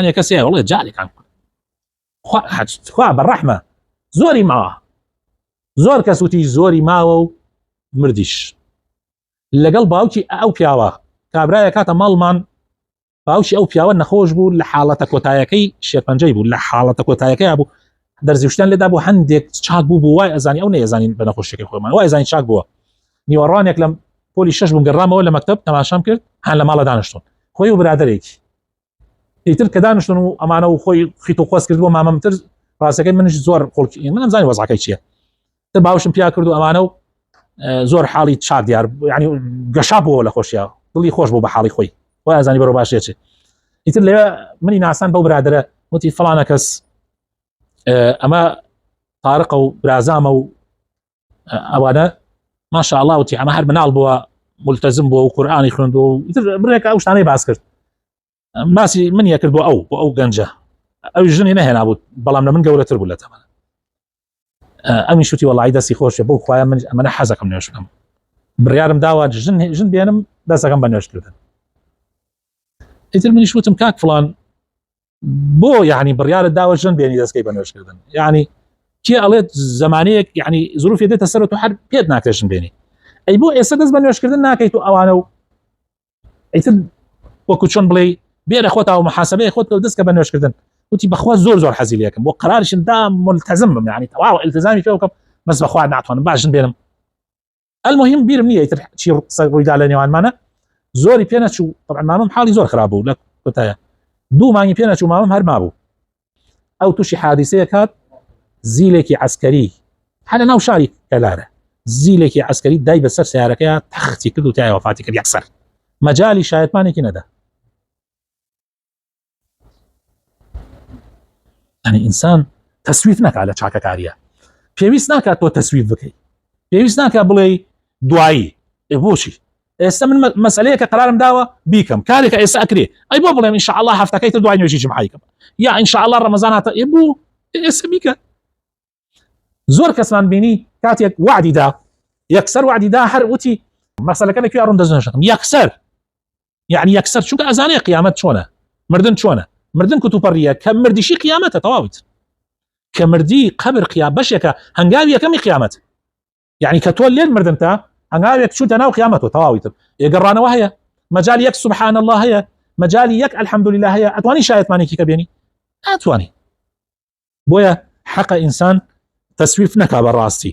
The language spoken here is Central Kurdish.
هەنێ کەس هەیە بڵێ جارێکان کورد خوا ئەحەد خوا بەڕەحمە زۆری ماوە زۆر کەس وتی زۆری ماوە و مردیش لەگەڵ باوکی ئەو پیاوە کابرایە کاتە ماڵمان باوکی ئەو پیاوە نەخۆش بوو لە حاڵەتە کۆتایەکەی شێرپەنجەی بوو لە حاڵەتە کۆتایەکەی بوو دەرزیشتان لەدا بۆ هەندێک چاک بوو بوو وای ئەزانی ئەو نەیەزانین بە نەخۆشیەکەی خۆمان وای زانین چاک بووە نیوەڕانێک لەم پۆلی شش بووم گەڕامەوە لە مەکتب تەماشام کرد هەان لە ماڵە دانیشتون خۆی و برادێکی ئیتر کە دانیشتن و ئەمانە و خۆی خیت و خۆست کرد بۆ مامەمتر ڕاستەکەی منش زۆر خۆڵکی منم زانانی وەزعەکەی چییە تە باوشم پیا کرد و ئەمانە و زۆر حاڵی چار دیار ینی گەشا بووەوە لە خۆشیە دڵی خۆش بوو بە حاڵی خۆی خۆی ئازانی بەرە باشێت ئیتر لێ منی ناسان بەو برادرە وتی فلانە کەس ئەمە تارقە و برازامە و ئەوانە ماشاءڵاوتی ئەمە هەر مناڵ بووە ملتەزم بۆ و قورآانی خوند و برێک ئەو شتانەی باس کرد ماسی من یەکرد بۆ ئەو بۆ ئەو گەنجە ئەو ژنی نەهێنا بوو بەڵام لە من گەورەتر بوو لە تەمە ئەمی شتی وڵی دەستی خۆشە بۆ خخوای من ئەمەە حەزەکەم نوێشکەم بڕارم داوا ژن ژن بێنم دەسەکەم بە نوێشکردن ئیتر منیش وتم کاک فلان بۆ یعنی بڕیارت داوە ژن بێنی دەستکەی بە نوێشکردن یعنی کێ ئەڵێت زمانەیەک یعنی زروفی دێتە سەر و هەر پێت ناکرێژن بێنی ئەی بۆ ئێستا دەست بە نوێشکردن ناکەیت و ئەوانە و ئەیتر وەکو چۆن بڵێ بێرە خۆتا و محاسبەیە خۆت و دەستکە بە نوێشکردن وتی بەخوا زۆر زۆر حەزیلەکەم بۆ قرارشم دا ملتەزم بم یعنی تەواو التزامی پێ بکەم بەس بەخوا ناتوانم باشن بێنم المهم بیرم نییە تر چی قسە ڕوویدا لە نێوانمانە زۆری پێ نەچوو طبعا مامم حاڵی زۆر خراپ بوو لە کوتایە دوو مانگی پێ نەچوو مامم هەر مابوو ئەو تووشی حادیسەیە کات زیلێکی عسکەری هەنە ناو شاری کەلارە زیلێکی عسکەری دای بەسەر سیارەکەیان تەختی کرد و تایەوە فاتی کرد یەکسەر مەجای شایەتمانێکی نەدا ئەنی ئینسان تەسویت نەکا لە چاکەکاریە پێویست ناکات تۆ تەسویت بکەیت پێویست ناکە بڵێ دوایی بۆچی ئێستا من مەسلەیە کە قرارم داوە بیکەم کارێکە ئێستا ئەکرێ ئەی بۆ بڵێم انشاءله هەفتەکەی تر دوای نوێژی جمعیکەم یا انشاءله ڕەمەزان هاتە ئێ بوو ئێستا بیکە زۆر کەسمان بینی کاتێک وعدی دا یەکسەر وعدی دا هەر وتی مەسەلەکە لە کوێ ڕوون دەزنشم یەکسەر یعنی یەکسەر چونکە ئەزانەیە قیامەت چۆنە مردن چۆنە مردن کوتوپەڕیە کە مردیشی قیامەتە تەواویت کە مردی قبر قیا بەشێکە هەنگاوی یەکەمی قیامەت یعنی کە تۆ لێن مردنتە هەنگاوێک چوونتە ناو قیامەتەوە تەواوی تر ئێگەڕانەوە هەیە مەجای یەک سبحان الله هەیە مەجای یەک الحمد لله هەیە ئەتوانی شایەتمانێکی کە بێنی ئەتوانی بۆیە حەقە ئینسان تەسویف نەکا بە ڕاستی